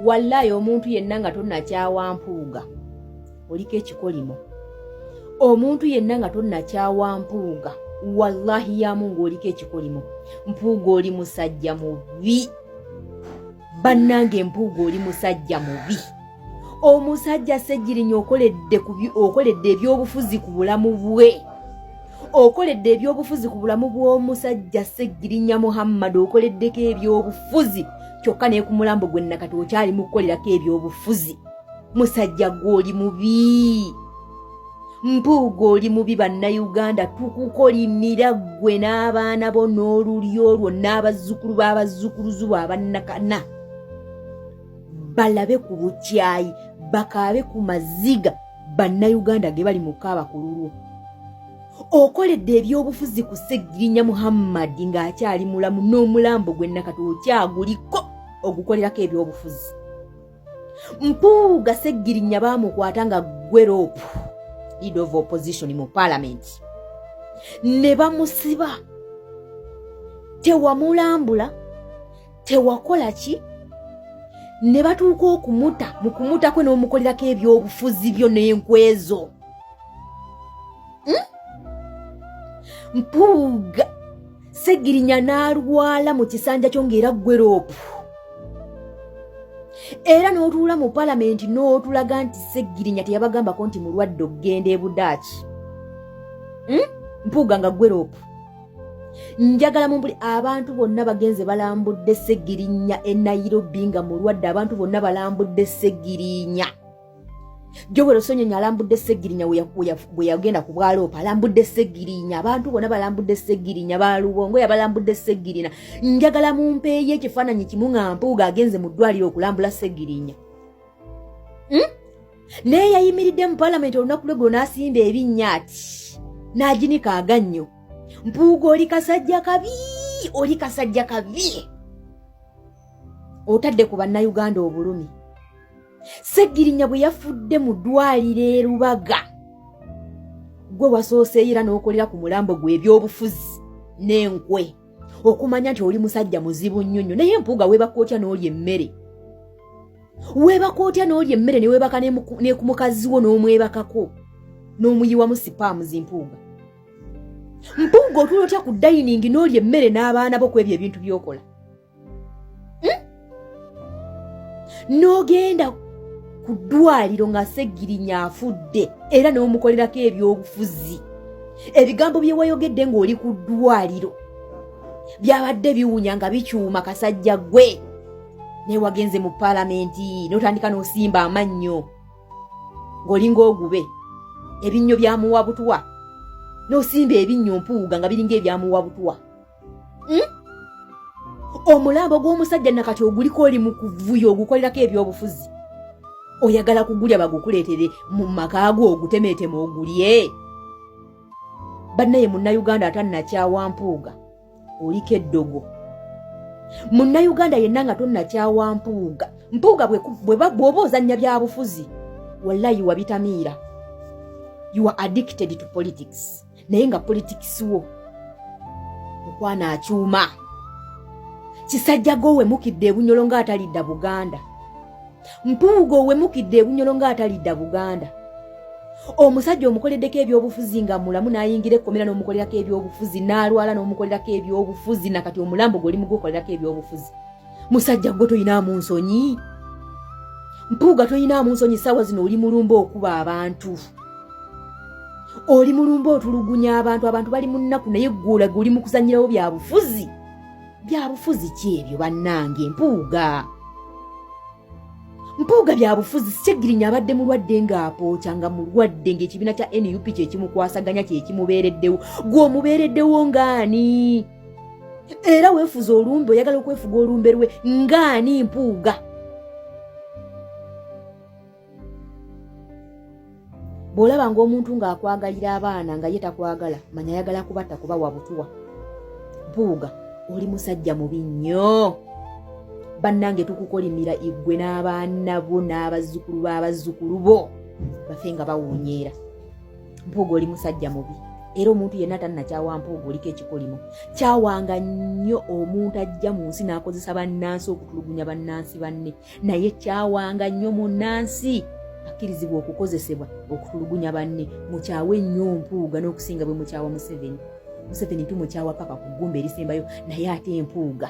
wallayi omuntu yenna nga tonakyawa mpuuga oliko ekikolimo omuntu yenna nga tonakyawa mpuuga wallahi yamu ngaoliko ekikolimo mpuuga oli musajja mubi bannange mpuuga oli musajja mubi omusajja sejjirinya okoledde ebyobufuzi ku bulamu bwe okoledde ebyobufuzi ku bulamu bw'omusajja seggirinya muhammad okoleddeko ebyobufuzi kyokka naye ku mulambo gwe nakati okyali mu kukolerako ebyobufuzi musajja gwe oli mubi mpuuga oli mubi bannayuganda tukukolimira ggwe n'abaana bo n'olulyo olwo n'abazzukulu b'abazzukuluzu bo abannakana balabe ku bukyayi bakaabe ku maziga bannayuganda ge bali mu kaaba ku lulwo okoledde ebyobufuzi ku segirinya muhammadi ng'akyali mulamu n'omulambo gwe nakati okyaguliko ogukolerako ebyobufuzi mpuuga segirinya baamukwata nga gweroopu lead of opposition mu paalamenti ne bamusiba tewamulambula tewakola ki ne batuuka okumuta mu kumuta kwe n'omukolerako ebyobufuzi byo n'enkwezo hmm? mpuuga segirinya n'alwala mu kisanja kyo ng'era gweroopu era n'otuula mu palamenti n'otulaga nti segirinya teyabagambako nti mulwadde okugenda ebudaaki hmm? mpuuga nga gweroopu njagala mumbuli abantu bonna bagenze balambudde segirinya e nairobi nga mulwadde abantu bonna balambudde segirinya jowero sonyonyi alambudde segirinya bwe yagenda ku bwaloopa alambudde segirinya abantu bonna balambudde segirinya balubongo yabalambudde segirina njagala mumpeeyo ekifaananyi kimu nga mpuuga agenze mu ddwaliro okulambula segirinya hmm? naye yayimiridde mu palamenti olunaku lwe gwo n'asimba ebinnya ati n'aginika agannyo mpuuga oli kasajja kabi oli kasajja kabi otadde ku bannayuganda obulumi ssegirinya bwe yafudde mu ddwaliro e rubaga gwe wasooseeyira n'okolera ku mulambo gwe ebyobufuzi n'enkwe okumanya nti oli musajja muzibu nnyo nnyo naye mpuuga weebakootya n'oli emmere weebaka otya n'olya emmere neweebaka nekumukaziwo n'omwebakako n'omuyiwamu sipaamu zimpuuga mpuuga otuula otya ku dayiningi n'olya emmere n'abaana bo ku ebyo ebintu byokola hmm? n'ogenda ku ddwaliro nga segirinya afudde era n'omukolerako ebyobufuzi ebigambo bye wayogedde ng'oli ku ddwaliro byabadde biwunya nga bikyuma kasajja gwe naye wagenze mu paalamenti notandika nosimba amannyo ng'olinga ogube ebinnyo byamuwa butwa nosimba ebinnyo mpuuga nga biringa ebyamuwa butwa hmm? omulambo gw'omusajja nakati oguliko oli mu kuvuyo ogukolerako ebyobufuzi oyagala kugulya bagukuleetere mu makaago ogutemeetema ogulye bannaye munnayuganda atannakyawa mpuuga oliko eddogo munnayuganda yenna nga tonnakyawa mpuuga mpuuga bw'oba ozannya byabufuzi wallayi wabitamiira you are addicted to politics naye nga politics wo okwana akyuma kisajja gowemukidde ebunyolo ng'atalidda buganda mpuuga owemukidde ebunyolo ng'atalidda buganda omusajja omukoleddeko ebyobufuzi nga mulamu n'ayingira ekkomera n'omukolerako ebyobufuzi n'alwala n'omukolerako ebyobufuzi nakati omulambo gwe oli mugukolerako ebyobufuzi musajja gwe toyinaamu nsonyi mpuuga toyinaamu nsonyi saawa zino oli mulumba okuba abantu oli mulumba otulugunya abantu abantu bali mu nnaku naye ggwolage oli mu kuzanyirawo bya bufuzi byabufuzi ki ebyo bannange mpuuga mpuuga byabufuzi segirinya abadde mulwadde ng'apooca nga mulwadde ng'ekibiina kya nup kyekimukwasaganya kyekimubeereddewo gw'omubeereddewo ng'ani era weefuza olumbe oyagala okwefuga olumbe lwe ng'ani mpuuga bw'olaba ng'omuntu ng'akwagalira abaana nga ye takwagala manya ayagala kubatta kuba wabutuwa mpuuga oli musajja mubi nnyo bannange tukukolimira igwe n'abaana bo n'abazzukulu b'abazzukulu bo bafe nga bawunyeera mpuuga oli musajja mubi era omuntu yenna tannakyawa mpuuga oliko ekikolimo kyawanga nnyo omuntu ajja mu nsi n'akozesa bannansi okutulugunya bannansi banne naye kyawanga nnyo munnansi akkirizibwa okukozesebwa okutulugunya banne mukyawe nnyo mpuuga n'okusinga bwe mukyawa museveni museveni tumukyawa paka ku ggumba erisembayo naye ate empuuga